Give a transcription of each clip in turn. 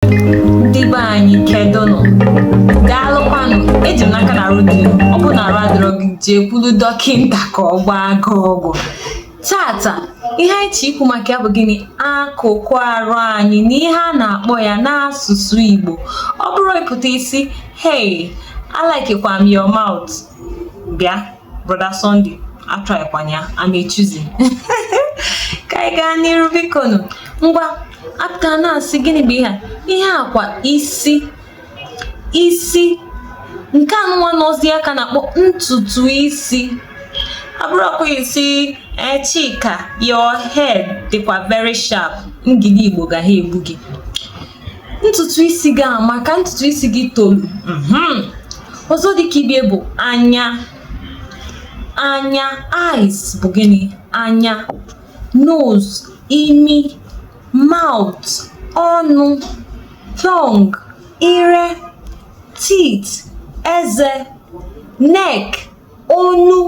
ndị be anyị kedụnụ daalụkwanụ eji m n'aka na arụ dị ọ bụrụ na arụ adịrọ gị jekwulu dọkịnta ka ọ gbaa gị ọgwụ tata ihe anyị ji ikwu maka ya bụ gịnị akụkụ arụ anyị na ihe a na-akpọ ya n'asụsụ Igbo ọ bụrọ ị pụta ị sị hey a likekwa m your mouth bịa brother Sunday atrykwana ya I'm a chosen ka anyị gaa n'iru bikonu ngwa a pụta na-asị gịnị bụ ihe a ihe a kwa isi isi nke a nụnwa n'ozi aka a na-akpọ ntutu isi ọ bụrọkwa ị sị eh, Chika your head dịkwa very sharp ndị Igbo ga ha egbu gị ntutu isi gị amaka ntutu isi gị tolu mhm. ọzọ dịka ibe ya bụ anya anya eyes bụ gịnị anya nose imi mouth ọnụ tongue ire teeth eze neck onu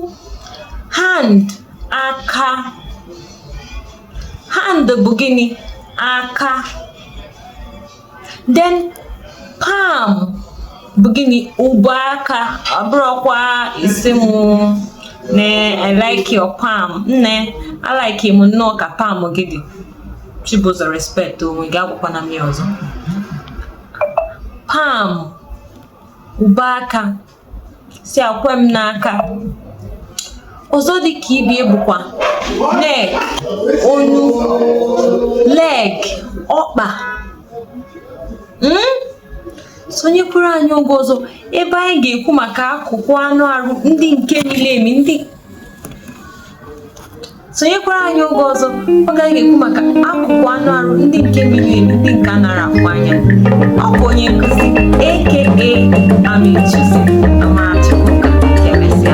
hand aka hand bụ gịnị? aka then palm bụ gịnị ụbọ aka ọ bụrọkwa ị sị m nne I like your palm nne a like m nnọọ ka palm gị dị Chibụzọ respect onwe gị agwakwana m ya ọzọ palm ụbọ aka sị ya kwe m n'aka ọzọ dị ka ibe ya bụkwa neck onu leg ọkpa hmm? sonyekwuru anyị oge ọzọ ebe anyị ga-ekwu maka akụkụ anụ arụ ndị nke miri emi ndị sonyekwara anyị oge ọzọ oge anyị ga-ekwu maka akụkụ anụ arụ ndị nke miri emi ndị nke a narọ afụ anya ọ bụ onye nkụzi aka I'm a chosen Amarachukwu ka emesịa